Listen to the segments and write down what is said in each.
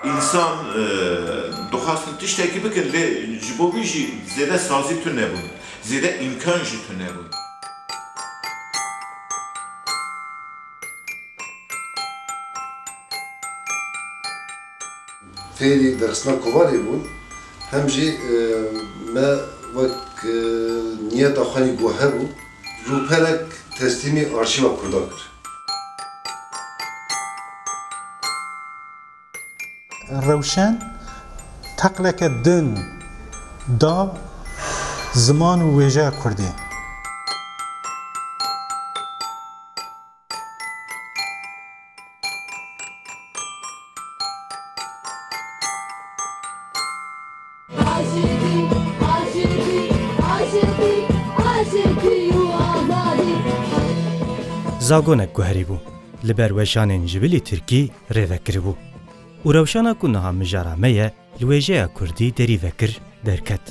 Însan dixwastin tiştekî bikin lê ji bo vî jî zêde sazî tune bûn, zêde îmkan jî tune bûn. Fêrî derxistina kovarê bûn, hem jî me wek niyeta xwe anî ku hebû, rûperek teslîmî Arşîva Kurda kir. Rewşen teqleke din da ziman û wêjeya Kurdî. Zagonek guherî bû li ber weşanên ji bilî tirkî rêvekiribû û rewşana ku niha mijara me ye li wêjeya kurdî derî vekir derket.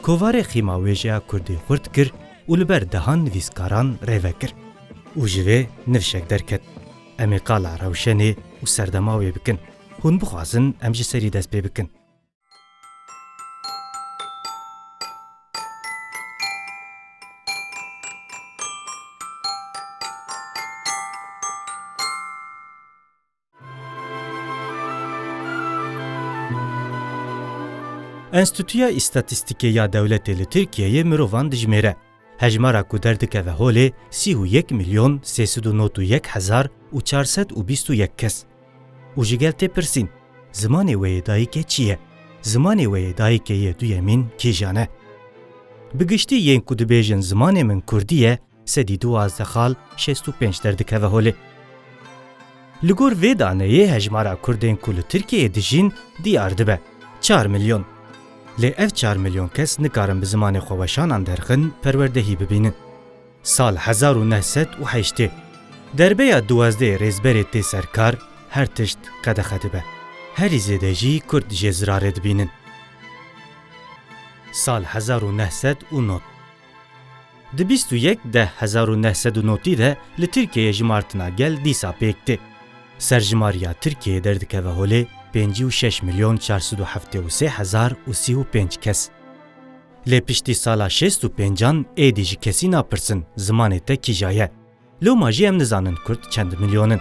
Kovarê xîma wêjeya kurdî xurt kir û li ber dehan nivîskaran rêve kir û ji vê nivşek derket, Em ê qala rewşenê û serdema wê bikin, hûn bixwazin em ji serî dest pê bikin. Enstîtuya Îstatîstîkê ya Dewletê li Tirkiyeyê mirovan dijimêre. Hejmara ku derdikeve holê sî û yek milyon sê sed û not û yek hezar û çar sed û bîst û yek kes. Û ji gel tê pirsîn, Zimanê wê yê dayikê çi ye? Zimanê wê yê dayikê yê duyemîn kîjan e? Bi giştî yên ku dibêjin zimanê min kurdî ye, Sedî duwazdeh xal şêst û pênc derdikeve holê. Li gor vê daneyê hejmara Kurdên ku li Tirkiyeyê dijîn diyar dibe, çar milyon. Lê ev çar milyon kes nikarin bi zimanê xwe weşanan derxin perwerdehî bibînin. Sal hezar û neh sed û heştê, derbeya duwazdehê rêzberê tê ser kar, her tişt qedexe dibe. Herî zêde jî Kurd jê zirarê dibînin. Sal hezar û neh sed û nod. Di bîst û yek deh hezar û neh sed û notî de li Tirkiyeyê jimartina gel dîsa pêk tê. Serjimariya Tirkiyeyê derdikeve holê pêncî û şeş milyon çar sed û heftê û sê hezar û sî û pênc kes. Lê piştî sala şêst û pêncan êdî ji kesî napirsin zimanê te kîja ye. Loma jî em nizanin kurd çend milyon in.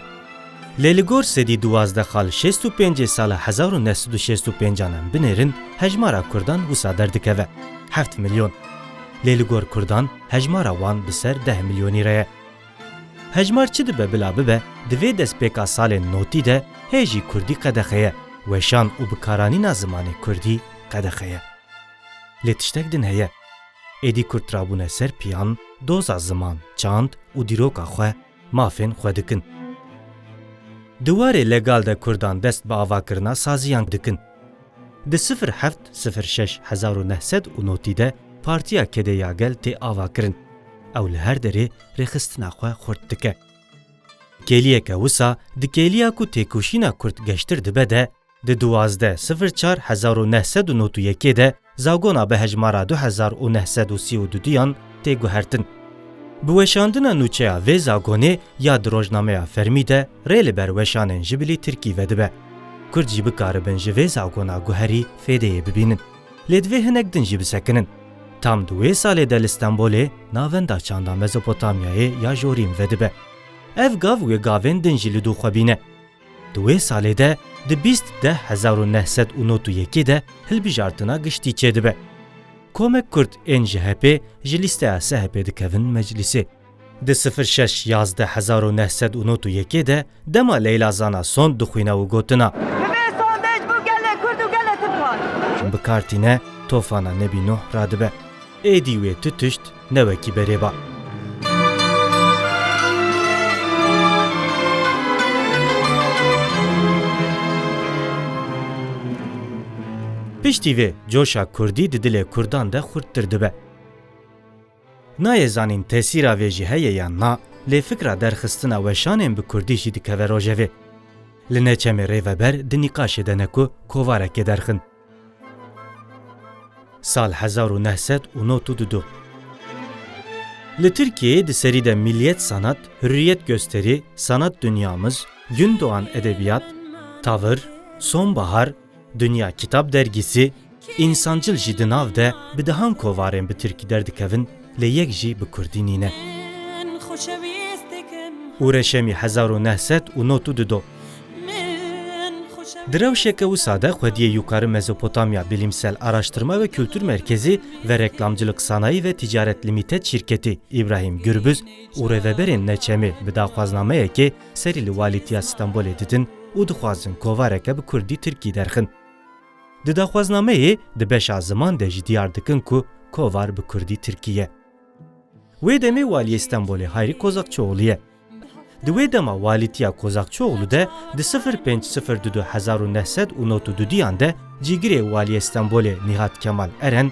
Lê li gor sedî duwazdeh xal şêst û pêncê sala hezar û neh sed û şêst û pêncan em binêrin hejmara kurdan wisa derdikeve heft milyon. Lê li gor kurdan hejmara wan bi ser deh milyonî re ye. Hejmar çi dibe bila bibe di vê destpêka salên notî de hê jî kurdî qedexe ye, weşan û bikaranîna zimanê kurdî qedexe ye. Lê tiştek din heye. Êdî Kurd trabûne ser piyan, doza ziman, çand û dîroka xwe, mafên xwe dikin. Di warê legal de Kurdan dest bi avakirina saziyan dikin. Di sifir heft sifir şeş hezar û neh sed û notî de Partiya Kedê ya Gel tê avakirin. Ew li her derê rêxistina xwe xurt dike. Kêliyeke wisa di kêliya ku têkoşîna Kurd geştir dibe de Di duwazdeh sifir çar hezar û neh sed û nod û yekê de zagona bi hejmara du hezar û neh sed û sî û du duyan tê guhertin. Bi weşandina nûçeya vê zagonê ya di rojnameya fermî de rê li ber weşanên ji bilî tirkî vedibe. Kurd jî bikaribin ji vê zagona guherî fêdeyê bibînin. Lê divê hinek din jî bisekinin. Tam di wê salê de li Stenbolê navenda çanda Mezopotamyayê ya Jorîm vedibe. Ev gav wê gavên din jî li dû xwe bîne. Di wê salê de di bîst deh hezar û neh sed û not û yekê de hilbijartina giştî çêdibe. Komek kurd ên ji HEP'ê ji lîsteya SHP'ê dikevin meclîsê. Di sifir şeş yazdeh hezar û neh sed û not û yekê de dema Leyla Zana sond dixwîne û gotina. Bi vê sondej bû gelê kurd û gelê tirkan. Bikar tîne, tofana Nebî Nuh radibe. Êdî wê tu tişt ne wekî berê ba. Piştî vê coşa kurdî di dilê kurdan de xurttir dibe. Nayê zanîn tesîra vê jî heye yan na, lê fikra derxistina weşanên bi kurdî jî dikeve rojevê. Li neçemê rê veber di nîqaşê de ne ku kovarekê derxin. Sal hezar û neh sed û nod û du du Li Tirkiyeyê di serî de Milliyet Sanat, Hürriyet Gösteri, Sanat Dünyamız, Gün Doğan Edebiyat, Tavır, Sonbahar, Dünya Kitap Dergisi, Insancıl jî di nav de bi dehan kovarên bi tirkî derdikevin, lê yek jî bi kurdî nîne. Û reşemî hezar û neh sed û not û du do. Di rewşeke wisa de xwediyê Yukari Mezopotamya Bilîmsel Araştirma ve Kultur Merkezî ve Reklamcilik Sanayi ve Ticaret Limited şîrketî Îbrahîm Gurbuz û rêveberên Neçemê bi daxwaznameyekê serî li Walîtiya Stenbolê didin û dixwazin kovareke bi kurdî-tirkî derxin. Di daxwaznameyê di beşa ziman de jî diyar dikin ku kovar bi kurdî tirkî ye. Wê demê waliyê Stenbolê Hayrî Kozakçioğlu ye. Di wê dema walîtiya Kozakçioğlu de di sifir pênc sifir du du hezar û neh sed û nod û du diyan de cîgirê waliyê Stenbolê Nîhat Kemal Eren,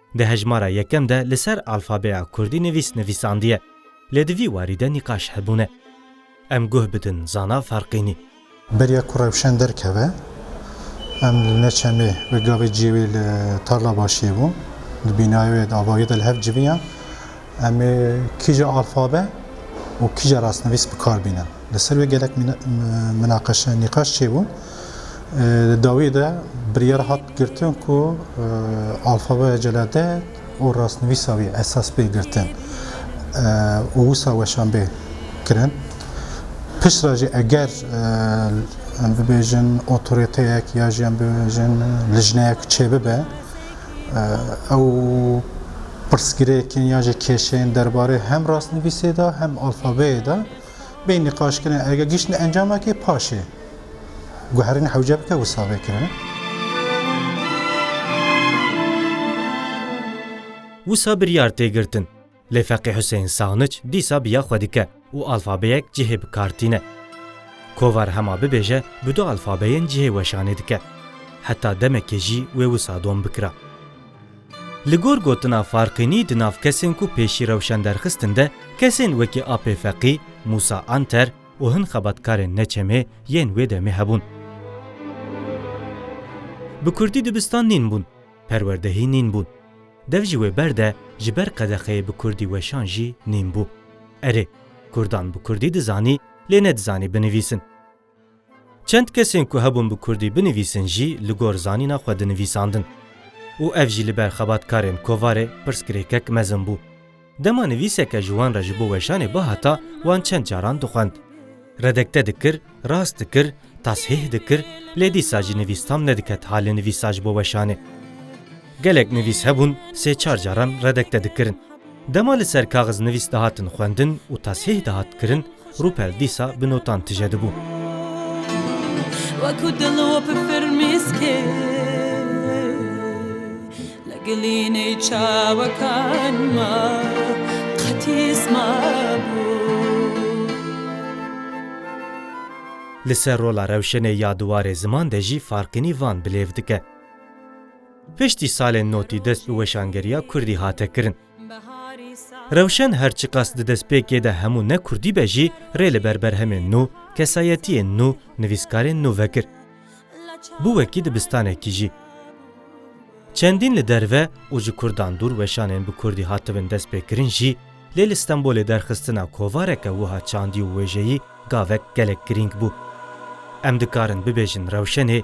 Di hejmara yekem de li ser alfabeya kurdî nivîs nivîsandiye. Lê di vî warî de nîqaş hebûne. Em guh bidin zana Ferqînî. Beriya ku rewşen derkeve, em li Neçemê bi gavê ciyê wê li Tarlabaşiyê bûn. Di bînayê wê de avahiya de li hev civiyan. Em ê kîja alfabe û kîja rastnivîs bi kar bînin. Li ser wê gelek minaqeşe, nîqaş çêbûn. Di dawiyê de biryar hat girtin ku alfabeya celadet û rastnivîsa wî esas bê girtin û wisa weşan bê kirin. Piştre jî eger em bibêjin otoriteyek ya jî em bibêjin lijneyek çêbibe, Ew pirsgirêkên yan jî kêşeyên derbarê hem rastnivîsê de hem alfabeyê de bê nîqaş kirin. Erge gihiştin encamekê paşê guherîn hewce bike wisa bê kirin. Wisa biryar tê girtin. Lê Feqî Huseyîn Sanic dîsa bi ya xwe dike û alfabeyek cihê bi kar tîne. Kovar hema bibêje bi du alfabeyên cihê weşanê dike. Heta demekê jî wê wisa dom bikira. Li gor gotina Farqînî di nav kesên ku pêşî rewşen derxistin de kesên wekî Apê Feqî, Mûsa Anter û hin xebatkarên ne çemê yên wê demê hebûn. Bi kurdî dibistan nîn bûn, perwerdehî nîn bûn. Dev ji wê ber de ji ber qedexeyê bi kurdî weşan jî nîn bû. Erê, kurdan bi kurdî dizanî lê nedizanî binivîsin. Çend kesên ku hebûn bi kurdî binivîsin jî li gor zanîna xwe dinivîsandin. Û ev jî li ber xebatkarên kovarê pirsgirêkek mezin bû. Dema nivîseke ji wan re ji bo weşanê bihata, wan çend caran dixwend. Redekte dikir, rast dikir, tashîh dikir, lê dîsa jî nivîs tam nediket halê nivîsa ji bo weşanê. Gelek nivîs hebûn sê çar caran redekte dikirin. Dema li ser kaxiz nivîs dihatin xwendin û tashîh dihat kirin, Rûpel dîsa bi notan tije dibû. Weku dil û bi firmîskê li gilînê çawekan ma qetîs mabû. Li ser rola rewşenê ya diwarê ziman de jî farqînî van bilêv dike. Piştî salên notî dest û weşangeriya kurdî hate kirin. Rewşen her çiqas di destpêkê de hemû ne kurdî be jî rê li ber berhemên nû, kesayetiyên nû, nivîskarên nû vekir. Bû wekî dibistanekî jî. Çendîn li derve û ji kurdan dûr weşanên bi kurdî hatibin destpêkirin jî lê li Stenbolê derxistina kovareke wiha çandî û wêjeyî gavek gelek girîng bû. Em dikarin bibêjin rewşenê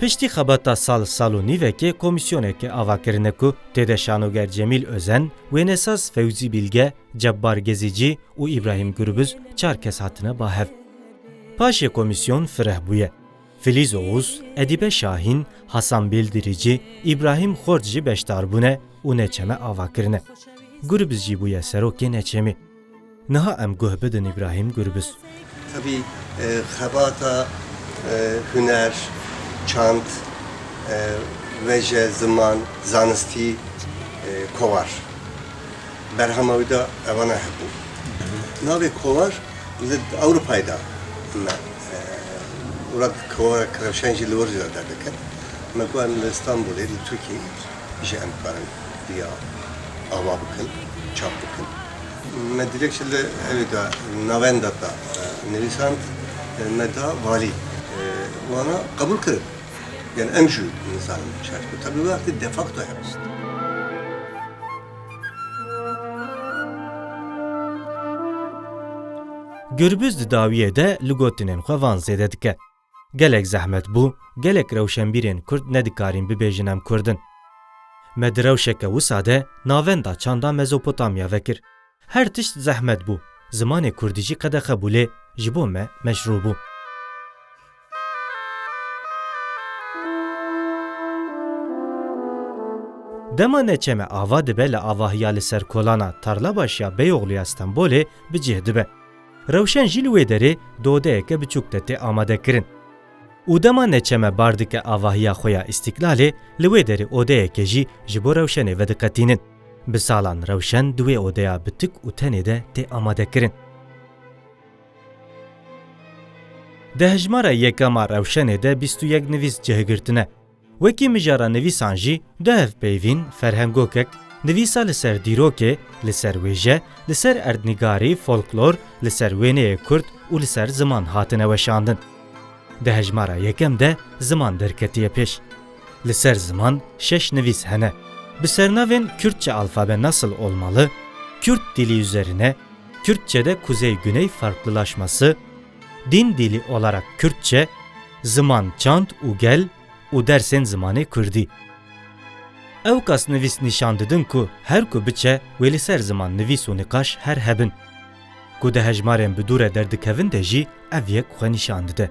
Piştî xebata sal sal û nîvekê komîsyoneke ava kirine ku tê de şanoger Cemîl Özen, wênesaz Fewzî Bilge, Cebbar Gezîcî û Îbrahîm Gurbuz çar kes hatine bahev. Paşê komîsyon fireh bûye. Filîz Oğuz, Edîbe Şahîn, Hasan Bêldirîcî, Îbrahîm Xort jî beşdar bûne û neçeme ava kirine. Gurbuz jî bûye serokê neçemê. Niha em guh bidin Îbrahîm Gurbis. Tevî xebata huner, çand, weje, ziman, zanistî, kovhar. Berhama wî de ewana hebû. Navê kovhar li Ewropayê de me û rad kovhara Kirewşen jî li wir jî de derdikevin. Me ku em li Îstanbûlê li Tirkiyeyê jî em dikarin riya ava bikin, çap bikin. Me dilekçe li evê de navenda de nivîsand, me da valî. Wana qebûl kirin. Yanî em jî nizanin çend ku te bi vê wextê de facto hewist. Gurbuz di dawiyê de li gotinên xwe van zêde dike. Gelek zehmet bû, gelek rewşenbîrên Kurd nedikarîn bibêjin em Kurd in. Me di rewşeke wisa de navenda çanda Mezopotamya vekir. Her tişt zehmet bû. Zimanê Kurdî jî qedexe bû lê ji bo me meşrû bû. Dema neçeme ava dibe li avahiya li ser kolana Tarlabaşiya Beyoğluya Stenbolê bi cih dibe. Rewşen jî li wê derê dodeyeke biçûk de tê amadekirin û dema neçeme bar dike avahiya xwe ya Îstîklalê, li wê derê odeyeke jî ji bo rewşenê vediqetînin. Bi salan rewşen di wê odeya bi tik û tenê de tê amadekirin. Di hejmara yekam a rewşenê de bîst û yek nivîs cihgirtine. Wekî mijara nivîsan jî du hevpeyvîn, ferhengokek, nivîsa li ser dîrokê, li ser wêje, li ser erdnîgarî, folklor, li ser wêneyê kurd û li ser ziman hatine weşandin. Di hejmara yekem de ziman derketiye pêş. Li ser ziman şeş nivîs hene bi sernavên Kürtçe alfabe nasıl olmalı, Kürt dili üzerine, Kürtçede kuzey-güney farklılaşması, Din dili olarak Kürtçe, ziman çand û gel û dersên zimanê Kurdî. Ewkas nivîs nîşan didin ku her ku biçe wê li ser ziman nivîs û niqaş her hebin. Ku di hejmarên bi dûre derdikevin de jî ev yek xwe nîşan dide.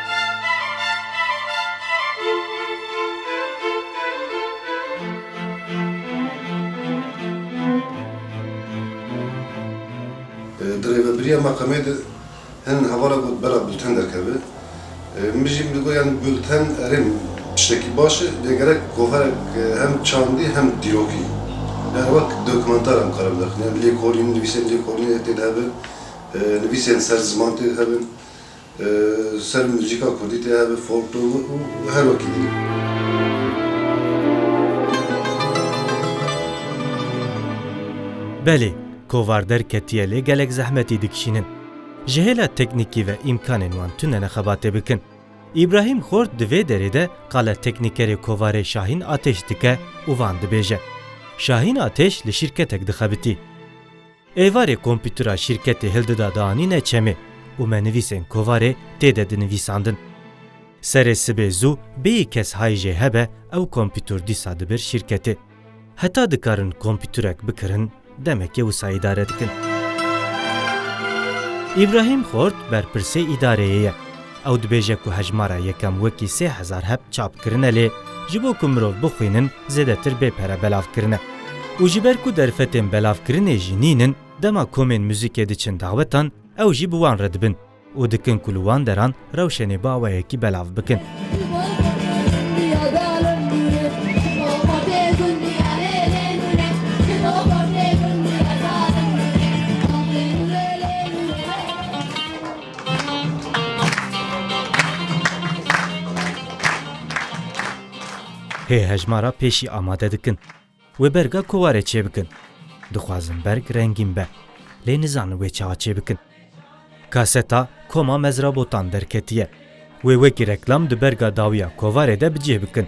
Di rêvebiriya meqamê de hin hevala got bela bulten derkeve. Min jî min digot yan bulten erê tiştekî baş e lê gerek goverek hem çandî hem dîrokî yan wek dokumentar em kare bidaqin yan lêkolîn nivîsên lêkolînê tê de hebin, nivîsên ser ziman tê de hebin, Ser muzîka kurdî tê hebe folklor û her wekî din. Belê, kovar derketiye lê gelek zehmetî dikişînin. Ji hêla teknîkî ve îmkanên wan tune ne xebatê bikin. Îbrahîm Xort di vê derê de qala teknîkerê kovarê Şahîn Atêş dike û van dibêje. Şahîn Atêş li şîrketek dixebitî. Êvarê komputera şîrketê Hildida dianîne çemê û me nivîsên kovarê tê de dinivîsandin. Serê sibê zû bêyî kes hay jê hebe ew komputer dîsa dibir şîrketê. Heta dikarin komputerek bikirin demekê wisa îdare dikin. Îbrahîm Xort berpirsê îdareyê ye. Ew dibêje ku hejmara yekem wekî sê hezar heb çap kirine lê ji bo ku mirov bixwînin zêdetir bê pere belav kirine. Û ji ber ku derfetên belavkirinê jî nînin dema komên muzîkê diçin dawetan ew jî bi wan re dibin û dikin ku li wan deran rewşenê bi awayekî belav bikin. Hê hejmara pêşî amade dikin. Wê berga ku ware çêbikin. Dixwazin berg rengîn be. Lê nizanin wê çawa çêbikin. Kaseta Koma Mezrabotan derketiye. Wê wekî reklam di berga dawiya kovarê de bi cih bikin.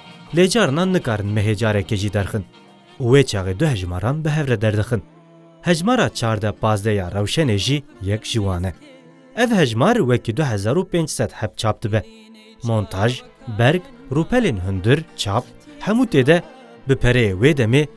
Lê carinan nikarin mehê carekê jî derxin û wê çaxê du hejmaran bi hev re derdixin. Hejmara çardeh pazdeh ya rewşenê jî yek ji wan e. Ev hejmar wekî du hezar û pênc sed heb çap dibe. Montaj, berg, rûpelên hundir, çap, hemû tê de bi pereyê wê demê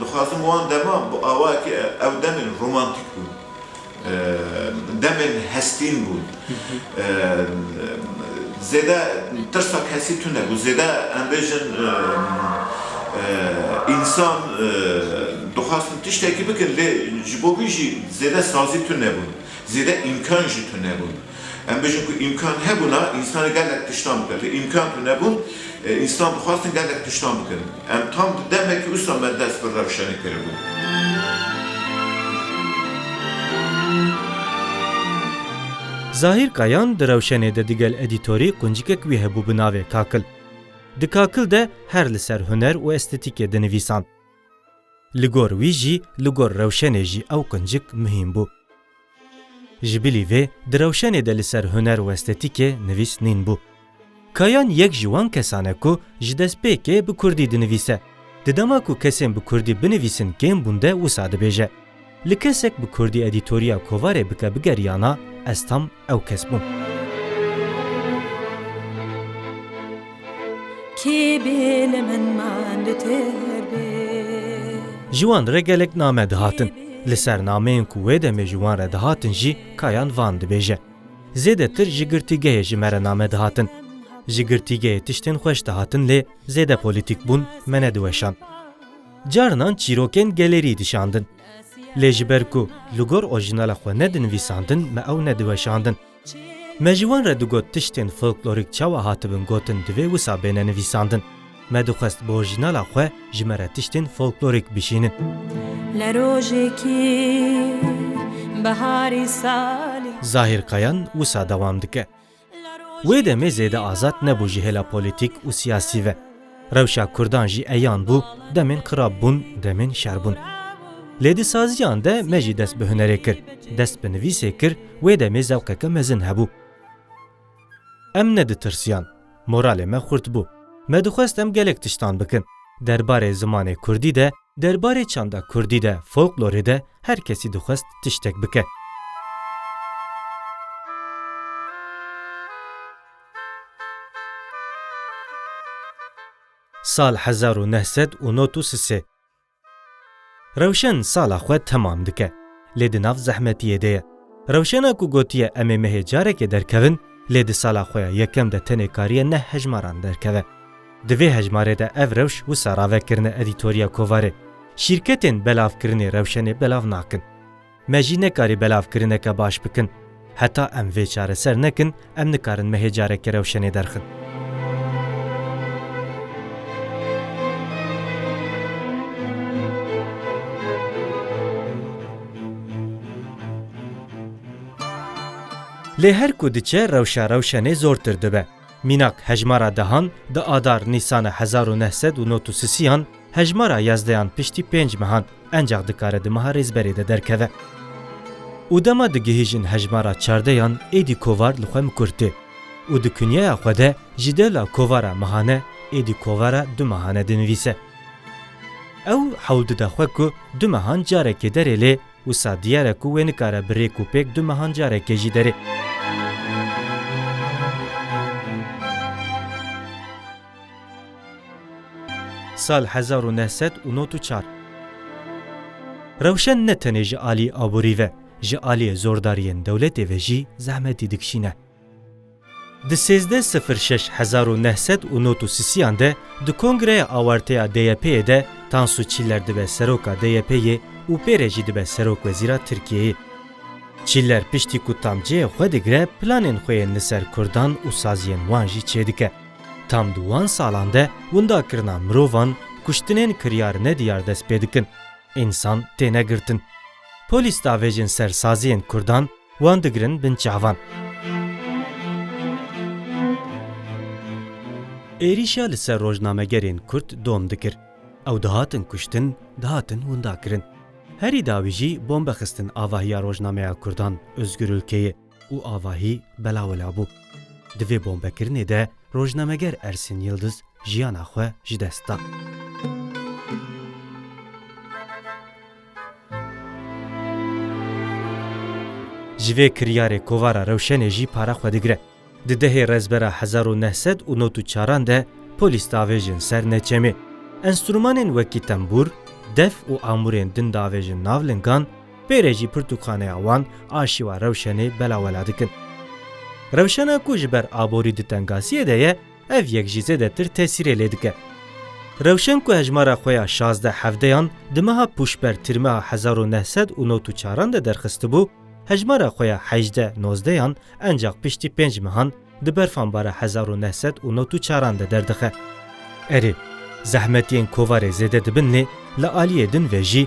Dixwazim wan deman bi awayekî ew demên romantîk bûn. Demên hestîn bûn. Zêde tirsa kesî tune nebû. Zêde em bêjin însan dixwastin tiştekî bikin lê ji bo wî jî zêde sazî tune nebûn. Zêde îmkan jî tune nebûn. Em bêjin ku îmkan hebûna însanê gelek tiştan bike. Lê îmkan ku nebûn, însan dixwastin gelek tiştan bikin. Em tam di demekî usa me dest bi rewşenê kiribû. Zahîr Kayan di rewşenê de digel edîtorî quncikek wî hebû bi navê Kakil. Di Kakil de her li ser huner û estetîkê dinivîsand. Li gor wî jî li gor rewşenê jî ew quncik muhîm bû. Ji bilî vê di rewşenê de li ser huner û estetîkê nivîs nîn bû. Kayan yek ji wan kesan e ku ji destpêkê bi kurdî dinivîse. Di dema ku kesên bi kurdî binivîsin kêm bûn de wisa dibêje. Li kesek bi kurdî edîtoriya kovarê bike bigeriyana ez tam ew kes bûm. Kê bê li min manditir bê. Ji wan re gelek name dihatin. Li ser nameyên ku wê demê ji wan re dihatin jî Kayan van dibêje. Zêdetir ji girtîgehê ji me re name dihatin. Ji girtîgehê tiştên xweş dihatin lê zêde polîtîk bûn me nediweşand. Carinan çîrokên gelêrî dişandin. Lê ji ber ku li gor orjînala xwe ne dinivîsandin me ew nediweşandin. Me ji wan re digot tiştên folklorîk çawa hatibin gotin divê wisa bêne nivîsandin. Me dixwest bi orjînala xwe ji me re tiştên folklorîk bişînin. Zahîr Kayan wisa dewam dike, Wê demê zêde azad nebû ji hêla polîtîk û siyasî ve. Rewşa Kurdan jî eyan bû, demên xirab bûn, demên şer bûn. Lê di saziyan de me jî dest bi hunerê kir, dest bi nivîsê kir, wê demê zewqeke mezin hebû. Em neditirsiyan, moralê me xurt bû. Me dixwest em gelek tiştan bikin. Derbarê zimanê kurdî de, derbarê çanda kurdî de, folklorê de her kesî dixwest tiştek bike. Sal hezar û neh sed û not û sisê Rewşen sala xwe temam dike. Lê di nav zehmetiyê de ye. Rewşena ku gotiye em ê mehê carekê derkevin, lê di sala xwe ya yekem de tenê kariye neh hejmaran derkeve. Di vê hejmarê de ev rewş wisa ravekirine edîtoriya kovarê, Şîrketên belavkirinê rewşenê belav nakin. Me jî nekarî belavkirineke baş bikin. Heta em vê çareser nekin, em nikarin mehê careke rewşenê derxin. Lê her ku diçe rewşa rewşenê zortir dibe. Mînak hejmara dehan di adar nîsana hezar û neh sed û nod û sisiyan hejmara yazdeyan piştî pênc mehan encax dikare di meha Rêzberê de derkeve û dema digihîjin hejmara çardeyan êdî kovar li xwe mikur tê û di kunyeya xwe de ji dela kovara mehane êdî kovara du mehane dinivîse. Ew hewl dide xwe ku du mehan carekê derê lê Wisa diyar e ku wê nikare bi rêk û pêk du mehan carekê jî derê. Sal hezar û neh sed û not û çar. Rewşen ne tenê ji alî aborî ve, ji aliyê zordariyên dewletê ve jî zehmetî dikişîne. Di sêzdeh sifir şeş hezar û neh sed û not û sisiyan de di kongreya awerteya DYP'ê de Tansu Çiller dibe seroka DYP'ê û pê re jî dibe serokwezîra Tirkiyeyê. Çiller piştî ku tam cihê xwe digire planên xwe yên li ser kurdan û saziyên wan jî çêdike. Tam di wan salan de windakirina mirovan, kuştinên kiryar ne diyar dest pê dikin. Însan têne girtin. Polîs diavêjin ser saziyên kurdan, Wan digirin bin çavan. Êrîşa li ser rojnamegerên Kurd dom dikir. Ew dihatin kuştin, dihatin windakirin. Herî dawî jî bombe xistin avahiya rojnameya Kurdan Ozgur Ulkeyê û avahî belawila bû. Di vê bombekirinê de rojnameger Ersin Yildiz jiyana xwe ji dest da. Ji vê kiryarê kovara rewşenê jî para xwe digire. Di dehê Rezbera hezar û neh sed û not û çaran de polîs diavêjin ser neçemê. Enstrûmanên wekî tembûr, def û amûrên din diavêjin nav lingan, pê re jî pirtûkxaneya wan a şîwa rewşenê belawela dikin. Rewşena ku ji ber aborî di tengasiyê de ye, Ev yek jî zêdetir tesîrê lê dike. Rewşen ku hejmara xwe ya şazdeh hevdeyan di meha Pûşber tirmeha hezar û neh sed û nod û çaran de derxistibû, hejmara xwe ya hejdeh nozdeyan encax piştî pênc mehan di berfanbara hezar û neh sed û nod û çaran de derdixe. Erê, zehmetiyên kovarê zêde dibin lê li aliyê din ve jî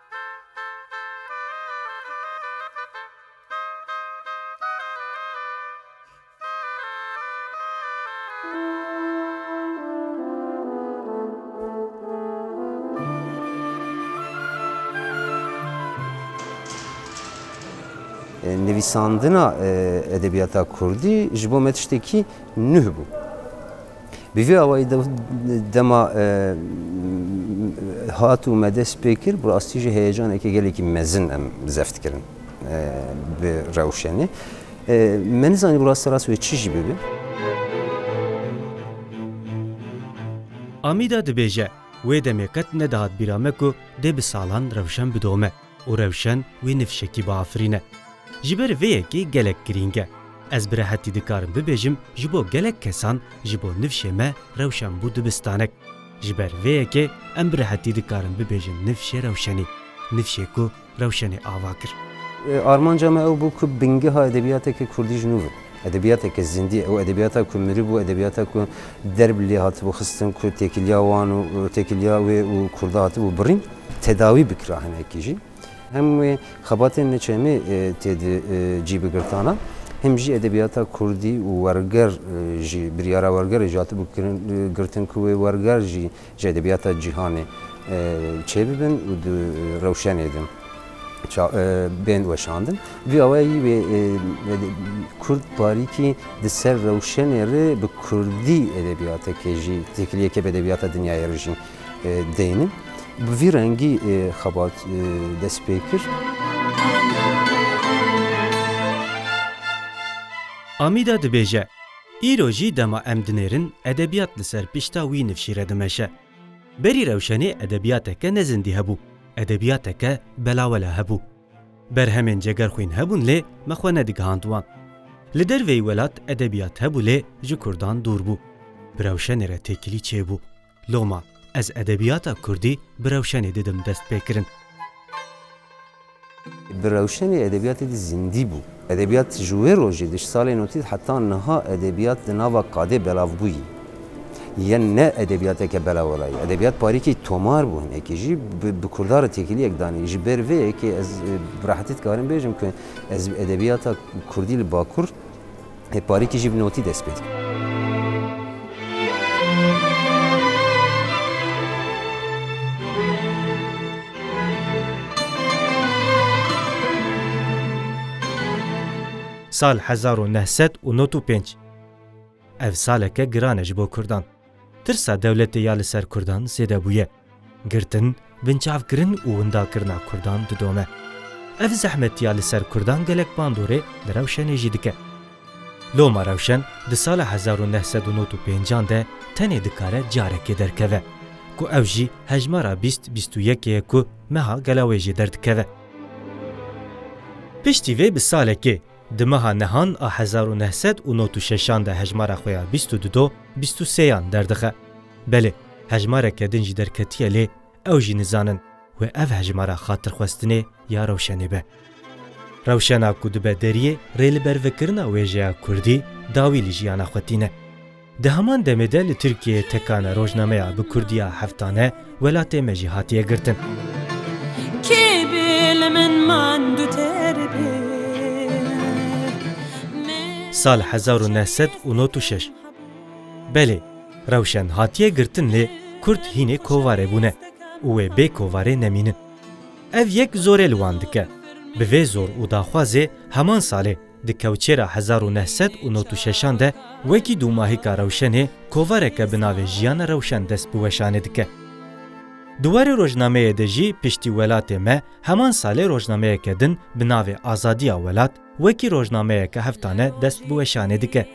Nivîsandina edebiyata kurdî ji bo me tiştekî nuh bû. Bi vî awayî de dema hat û me dest pê kir bi rastî jî heyecanekî gelekî mezin em zeft kirin bi rewşenê. Me nizanî bi rastî rast wê çi jî bibe. Amîda dibêje, Wê demê qet nedihat bîra me ku dê bi salan rewşen bidome. û rewşen wê ni fişekî biafirîne. Ji ber vê yekê gelek girîng e. Ez bi rehetî dikarim bibêjim ji bo gelek kesan ji bo nifşê me rewşen bû dibistanek. Ji ber vê yekê em bi rehetî dikarin bibêjin nifşê rewşenî. Nifşê ku rewşenê ava kir. Armanca me ew bû ku bingeha edebiyateke kurdî ji nû ve. Edebiyateke zindî, ew edebiyata ku miribû, edebiyata ku der bi lê hatibû xistin, ku têkiliya wan û têkiliya wê û Kurda hatibû birîn, tedawî bikira hinekî jî. Hem wê xebatên niçemê tê di cî bigirtana, hem jî edebiyata Kurdî û werger jî, biryara wergerê jî hatibû girtin ku wê werger jî Ji edebiyata cîhanê çêbibin û di rewşenê de bên weşandin. Vî awayî wê kurd parîkî di ser rewşenê re bi kurdî edebiyatekê jî têkiliyeke bi edebiyata dinyayê re jî deynin. Bi vî rengî xebat dest pê kir. Amîda dibêje. Îro jî dema em dinêrin edebiyat li ser pişta wî nifşî re dimeşe. Berî rewşenê edebiyateke ne zindî hebû, edebiyateke belawela hebû. Berhemên cegerxwîn hebûn lê me xwe nedigihand wan. Li derveyî welat edebiyat hebû lê ji kurdan dûr bû. Bi rewşenê re têkilî çêbû. Loma, Ez edebiyata kurdî bi rewşenê didim dest pê kirin. Bi rewşenê edebiyatê di zindî bû. Edebiyat ji wê rojê di ji salên otîz heta niha edebiyat di nava kadê belav bûyî. Yen ne edebiyateke belawala ye. Edebiyat parîkî tomar bû hinekî jî bi kurda re têkiliyek danî. Ji ber vê yekê ez bi rehetî dikarim bêjim ku ez edebiyata kurdî li bakur, Hêparîkî jî bi notî dest pê dike. Sal hezar û neh sed û not û pênc. Ev saleke giran e ji bo kurdan. Tirsa dewletê ya li ser kurdan zêde bûye. Girtin, binçavkirin û windakirina kurdan didome. Ev zehmetiya li ser kurdan gelek bandorê li Rewşenê jî dike. Loma Rewşen di sala hezar û neh sed û nod û pêncan de tenê dikare carekê derkeve ku ew jî hejmara bîst bîst û yekê ye ku meha gela wê jê derdikeve. Piştî vê bi salekê Di meha Nehan a hezar û neh sed û nod û şeşan de hejmara xwe ya bîst û du do bîst û seyan derdixe. Belê, hejmareke din jî derketiye lê ew jî nizanin wê ev hejmara xatirxwestinê ya rewşenê be. Rewşena ku dibe deriyê rê li ber vekirina wêjeya kurdî dawî li jiyana xwe tîne. Di heman demê de li Tirkiyeyê tekane rojnameya bi kurdiya heftane welatê me jî hatiye girtin. Sal hezar û neh sed û not û şeş. Belê, rewşen hatiye girtin lê kurd hînê kovarê bûne û wê bê kovarê nemînin. Ev yek zorê li wan dike. Bi vê zor û daxwazê heman salê Di kewçêra hezar û neh sed û nod û şeşan de wekî dûmahîka rewşenê kovareke bi navê Jiyana Rewşen dest bi weşanê dike. Di warê rojnameyê de jî Piştî Welatê Me heman salê rojnameyeke din bi navê Azadiya Welat wekî rojnameyeke heftane dest bi weşanê dike.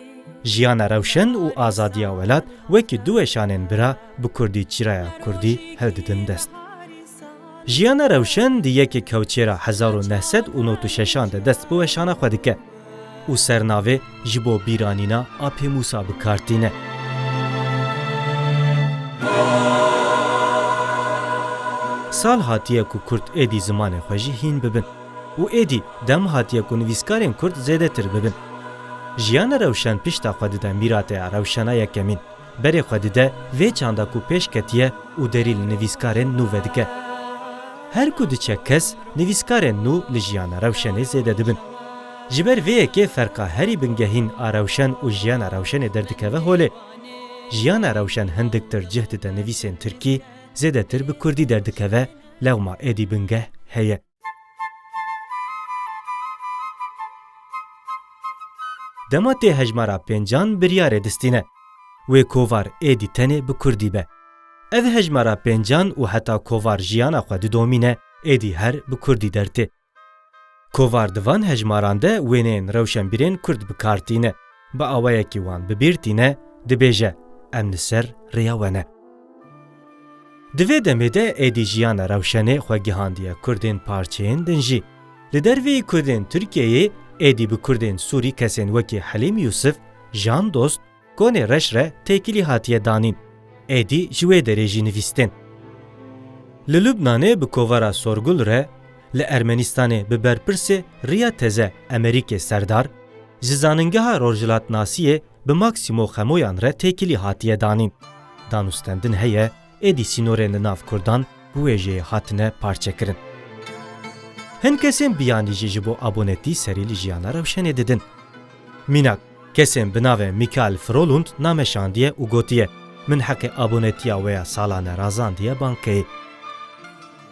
Jiyana Rewşen û Azadiya Welat wekî du weşanên bira bi kurdî çîraya kurdî hildidin dest. Jiyana Rewşen di yekê kewçêra hezar û neh sed û nod û şeşan de dest bi weşana xwe dike û sernavê ji bo bîranîna Apê Mûsa bi kar tîne. Sal hatiye ku Kurd êdî zimanê xwe jî hîn bibin û êdî dem hatiye ku nivîskarên Kurd zêdetir bibin. Jiyana Rewşen pişta xwe dide mîrateya Rewşena Yekemîn. Berê xwe dide vê çanda ku pêş ketiye û derî li nivîskarên nû vedike. Her ku diçe kes, nivîskarên nû li jiyana rewşenê zêde dibin. Ji ber vê yekê ferqa herî bingehîn a rewşen û jiyana rewşenê derdikeve holê. Jiyana rewşen hindiktir cih dide nivîsên tirkî, zêdetir bi kurdî derdikeve, lewma êdî bingeh heye. Dema tê hejmara pêncan biryarê distîne. Wê kovar êdî tenê bi kurdî be. Ev hejmara pêncan û heta kovar jiyana xwe didomîne êdî her bi kurdî dertê. Kovar di van hejmaran de wêneyên rewşenbîrên kurd bi kar tîne. Bi awayekî wan bi bîr tîne, dibêje, Em li ser rêya we ne. Di vê demê de êdî jiyana rewşenê xwe gihandiye Kurdên parçeyên din jî. Li derveyî Kurdên Tirkiyeyê êdî bi Kurdên Sûrî kesên wekî Helîm Yûsif, Jan Dost, Konê Reş re têkilî hatiye danîn. Êdî ji wê derê jî nivîstên. Li Lubnanê bi kovara Sorgul re, li Ermenistanê bi berpirsê Riya Teze Emerîkê Serdar, ji Zaningeha Rojhilatnasiyê bi Maksîmo Xemoyan re têkilî hatiye danîn. Danûstendin heye, êdî sînorên li nav Kurdan bi wê jêyê hatine parçekirin. Hin kesên biyanî jî ji bo abonetî serî li jiyana rewşenê didin. Mînak, kesên bi navê Mikael Frolund name şandiye û gotiye, Min heqê abonetiya wê ya salane razandiye bankeyê.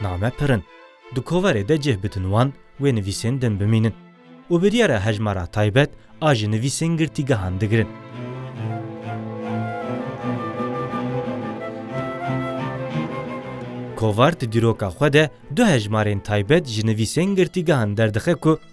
Name pir in. Di koverê de cih bidin wan wê nivîsên din bimînin û bi diyar e hejmara taybet a ji nivîsên girtîgehan digirin. Kovar di dîroka xwe de du hejmarên taybet ji nivîsên girtîgehan derdixe ku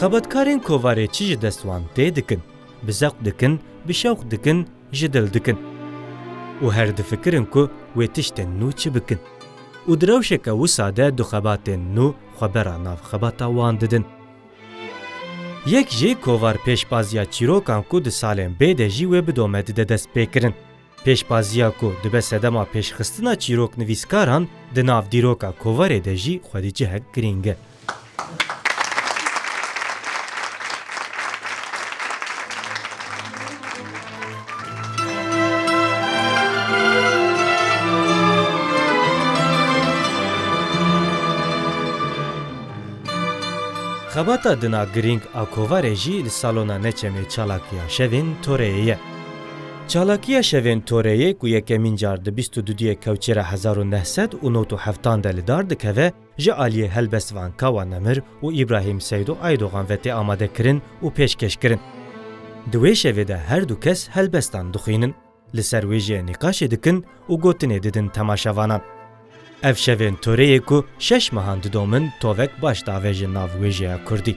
Xebatkarên kovarê çi ji dest wan tê dikin? Bi zevq dikin, bi şewq dikin, ji dil dikin. Û her difikirin ku wê tiştên nû çi bikin. Û di rewşeke wisa de du xebatên nû xwe bera nav xebata wan didin. Yek jî kovar pêşbaziya çîrokan ku di salên bê de jî wê bidome dide destpêkirin. Pêşbaziya ku dibe sedema pêşxistina çîroknivîskaran di nav dîroka kovarê de jî xwedî cihek girîng e. Xebata dina girîng a kovarê jî li salona neçemê çalakiya şevên toreyê ye. Çalakiya Şevên Toreyê ku yekemîn car di bîst û du duyê kewçê re hezar û neh sed û nod û heftan de li dar dikeve, ji aliyê Helbest Van Kawa Nemir û Îbrahîm Seydo Aydogan ve tê amadekirin û pêşkêşkirin. Di wê şevê de her du kes helbestan dixwînin, li ser wê jê nîqaşê dikin û gotinê didin temaşevanan. Ev Şevên Toreyê ku şeş mehan didomin tovek baş diavêjin nav wê jêya kurdî.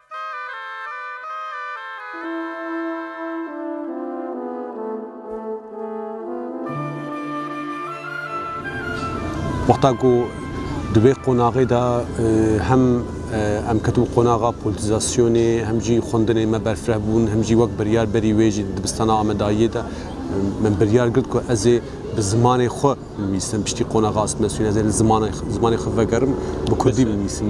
Wexta ku di vê qonaxê de hem em ketin qonaxa polîtizasyonê hem jî xwendinên me berfireh bûn hem jî wek biryar berî wê jî dibistana Amedayiyê de min biryar girt ku ez ê bi zimanê xwe Binivîsim, piştî qonaxa asmesûn ez ê li zimanê zimanê xwe vegerim, bi kurdî binivîsim.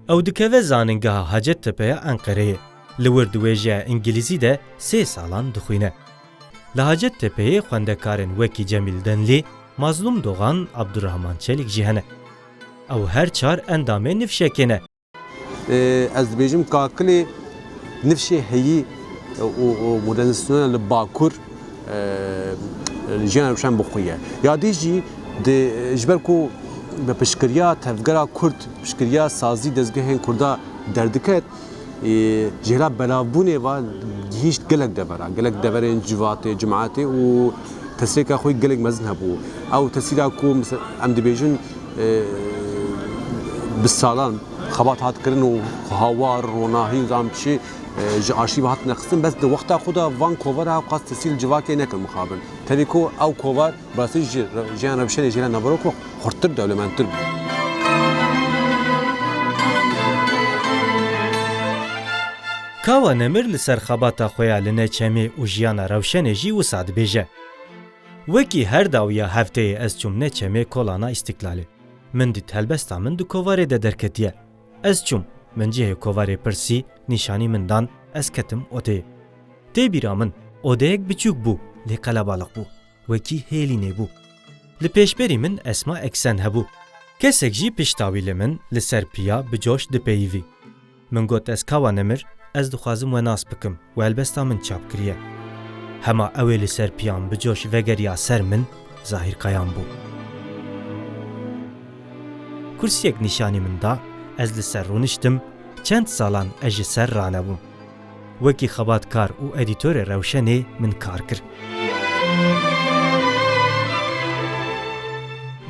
Ew dikeve zanîngeha Hacettepe ya Enqereyê. Li wir di wêjeya îngilîzî de sê salan dixwîne. Li Hacettepeyê xwendekarên wekî Cemîl Denlî, Mazlûm Dogan, Abdurrahman Çelîk jî hene. Ew her çar endamê nifşekê ne. Ez dibêjim kakilê nifşê heyî û modernizasyona li Bakur li jiyana rewşan bi xwe ye. Ya dî jî ji ber ku bi piştgiriya tevgera Kurd, piştgiriya sazî dezgehên Kurda derdiket, ji hêla belavbûnê ve gihîşt gelek devera, gelek deverên civatê, cimetê û tesrêka xwe gelek mezin hebû. Ew tesîra ku em dibêjin, Bi salan xebat hat kirin û hawar, ronahî û zam çi ji arşîva hat nexistin bes di wexta xwe de van kovara ew qas tesîl civakê nekin mixabin. Tevî ku ew kovar bi rastî ji jiyan re bi şerê jê re naverok û xurttir dewlemendtir bû. Kawa Nemir li ser xebata xwe ya li Neçemê û jiyana rewşenê jî wisa dibêje. Wekî her dawiya hefteyê ez çûmne çemê Kolana Îstîklalê. Min dît helbesta min di kovarê de derketiye. Ez çûm, min cihê kovarê pirsî, nîşanî min dan, ez ketim odeyê. Tê bîra min, odeyek biçûk bû, lê qelebalix bû. Wekî hêlînê bû. Li pêşberî min Esma Eksen hebû. Kesek jî pişta wî li min li ser piya bi coş dipeyivî. Min got ez kawa nemir, ez dixwazim we nas bikim û helbesta min çap kiriye. Hema ew ê li ser piyan bi coş vegeriya ser min, Zahîr Kayan bû. Kursiyek nîşanî min da, ez li ser rûniştim, çend salan ez ji ser ranebûm. Wekî xebatkar û edîtorê Rewşenê min kar kir.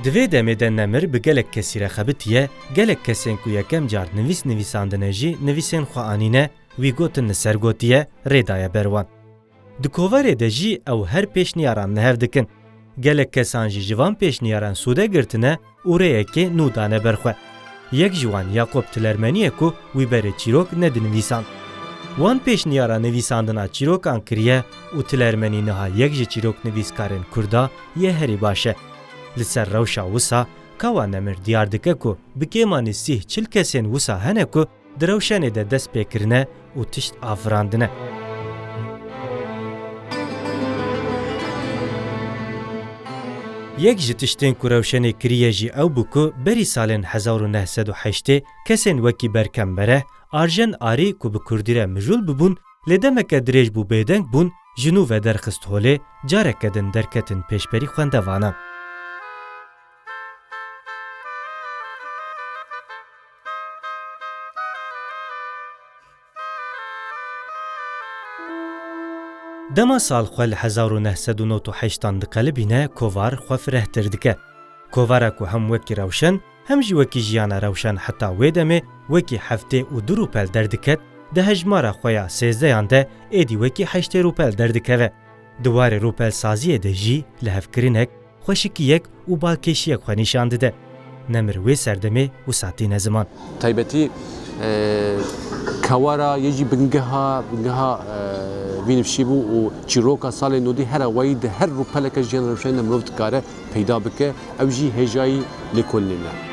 Di vê demê de Nemir bi gelek kesî re xebitiye, gelek kesên ku yekem car nivîs nivîsandine jî nivîsên xwe anîne, wî gotin li ser gotiye, rê daye ber wan. Di koverê de jî ew her pêşniyaran li hev dikin. Gelek kesan jî ji van pêşniyaran sûde girtine, Û rêyekê nû dane ber xwe. Yek ji wan Yakob Tilermeniyê ku wî berê çîrok nedinivîsand. Wan pêşniyara nivîsandina çîrokan kiriye û Tilermenî niha yek ji çîroknivîskarên Kurda yê herî baş e. Li ser rewşa wisa Kawa Nemir diyar dike ku bi kêmanî sîh çil kesên wisa hene ku Di rewşenê de dest pê kirine û tişt avirandine. Yek ji tiştên ku rewşenê kiriye jî ew bû ku berî salên hezar û neh sed û heştê kesên wekî Berkem Mereh, Arjen Arî ku bi kurdî re mijûl bibûn lê demeke dirêj bû bêdeng bûn ji nû vederxist holê careke din derketin pêşberî xwendevanan. Dema sal xwe li hezar û neh sed û nod û heşt an diqelibîne kovar xwe firehtir dike. Kovara ku hem wekî rewşen hem jî wekî jiyana rewşen heta wê demê wekî heftê û du rûpel derdiket, di hejmara xwe ya sêzdeyan de êdî wekî heştê rûpel derdikeve. Di warê rûpelsaziyê de jî lihevkirinek, xweşikiyek û balkêşiyek xwe nîşan dide. Ne mir wê serdemê wisa tîne ziman. Taybetî Kewara yê jî bingeha bingeha vî nifşî bû û çîroka salên nûdî here wayî di her rûpeleke jiyana rewşenê de mirov dikare peyda bike, ew jî hêjayî lêkolînê ne.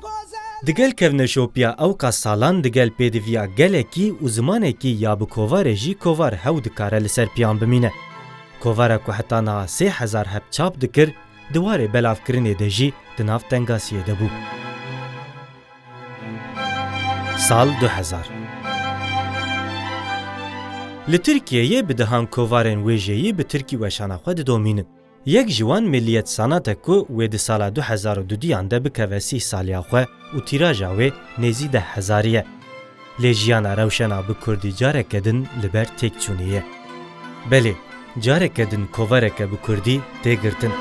Digel kevneşopiya ewka salan digel pêdiviya gelekî û zimanekî ya bi kovarê jî kovar hew dikare li ser piyan bimîne. Kovara ku heta niha sê hezar heb çap dikir, di warê belavkirinê de jî di nav tengasiyê de bû. Sal du hezar. Li Tirkiyeyê bi dehan kovarên wê jêyî bi tirkî weşana xwe didomînin. Yek ji wan Milliyet Sanate ku wê di sala du hezar û du duyan de bikeve sîh saliya xwe û tîraja wê nêzî deh hezarî ye. Lê jiyana rewşena bi kurdî careke din li ber têkçûnê ye. Belê, careke din kovereke bi kurdî tê girtin.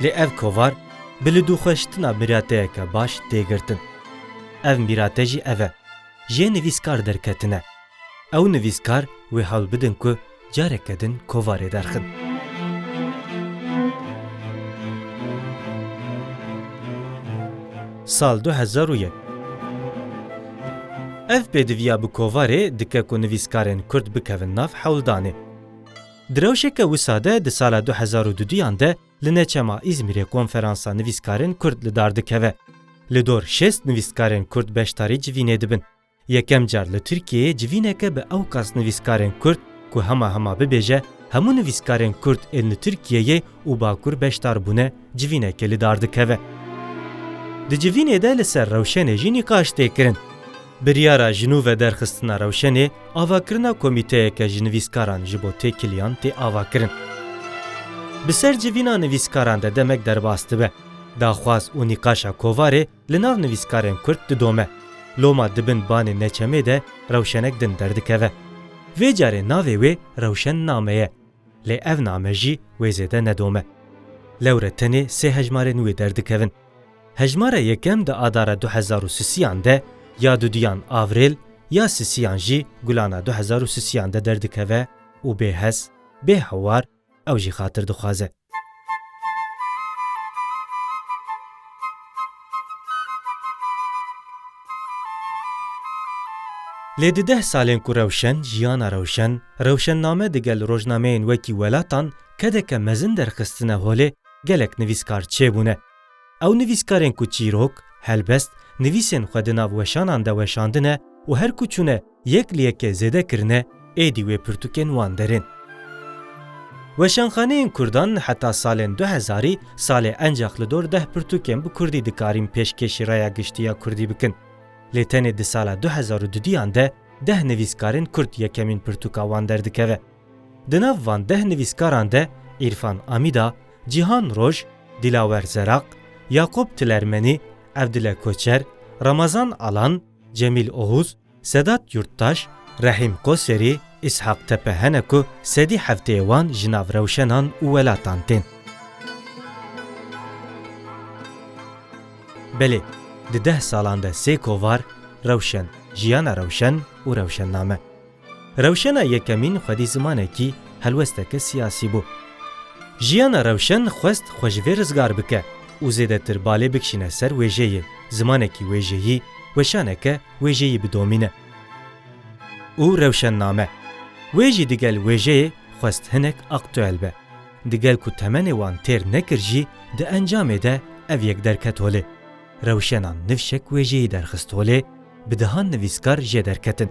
Lê ev kovar bi lidûxweşitina mirateyeke baş tê girtin. Ev mirate jî ev e. Jê nivîskar derketine. Ew nivîskar wê hewl bidin ku careke din kovarê derxin. Sal du hezar û yek. Ev pêdiviya bi kovarê dike ku nivîskarên Kurd bikevin nav hewldanê. Di rewşeke wisa de di sala du hezar û du duyan de Li neçema Îzmîrê konferansa nivîskarên Kurd li dar dikeve. Li dor şêst nivîskarên Kurd beşdarî civînê dibin. Yekem car li Tirkiyeyê civîneke bi ewqas nivîskarên Kurd ku hema hema bibêje hemû nivîskarên Kurd ên li Tirkiyeyê û Bakur beşdar bûne civînekê li dar dikeve. Di civînê de li ser rewşenê jî nîqaş tê kirin. Biryara ji nû ve derxistina rewşenê Avakirina komîteyeke ji nivîskaran ji bo têkiliyan tê avakirin. Bi ser civîna nivîskaran de demek derbas dibe. Daxwaz û nîqaşa kovarê li nav nivîskarên Kurd didome. Loma di bin banê neçemê de rewşenek din derdikeve. Vê carê navê wê Rewşen Name ye. Lê ev name jî wê zêde nedome. Lewre tenê sê hejmarên wê derdikevin. Hejmara yekem di adara du hezar û sisiyan de ya duduyan Avril ya sisiyan jî gulana du hezar û sisiyan de derdikeve û bê hes, bê hewar ew jî xatir dixwaze. Lê di deh salên ku rewşen, jiyana rewşen, rewşenname digel rojnameyên wekî Welatan kedeke mezin derxistine holê, gelek nivîskar çêbûne. Ew nivîskarên ku çîrok, helbest, nivîsên xwe di nav weşanan de weşandine û her ku çûne yek li yekê zêde kirine, êdî wê pirtûkên wan derin. Weşanxaneyên kurdan heta salên du hezarî salê encax li dor deh pirtûkên bi kurdî dikarîn pêşkêşî raya giştî ya kurdî bikin. Lê tenê di sala du hezar û dudiyan de deh nivîskarên kurd yekemîn pirtûka wan derdikeve. Di nav van deh nivîskaran de Îrfan Amîda, Cîhan Roj, Dîlawer Zeraq, Yaqûb Tilermenî, Evdile Koçer, Ramazan Alan, Cemîl Ohûz, Sedat Yurttaş, Rehîm Qoserî, Îshaq Tepe hene ku sedî hefteyê wan ji nav rewşenan û welatan tên. Belê, di deh salan de sê kovar, rewşen, jiyana rewşen û rewşenname. Rewşena Yekemîn xwedî zimanekî, helwesteke siyasî bû. Jiyana Rewşen xwest xwe ji vê rizgar bike û zêdetir balê bikişîne ser wêjeyê, zimanekî wêjeyî, weşaneke wêjeyî bidomîne û rewşenname. Wê jî digel wêjeyê xwest hinek aktuel be. Digel ku temenê wan têr nekir jî di encamê de ev yek derket holê. Rewşena nifşek wê jêyî derxist holê, bi dehan nivîskar jê derketin.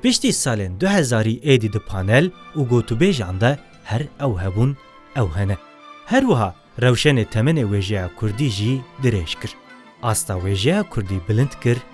Piştî salên du hezarî êdî di panel û gotûbêjan de her ew hebûn, ew hene. Her wiha rewşenê temenê wêjeya kurdî jî dirêj kir. Asta wêjeya kurdî bilind kir.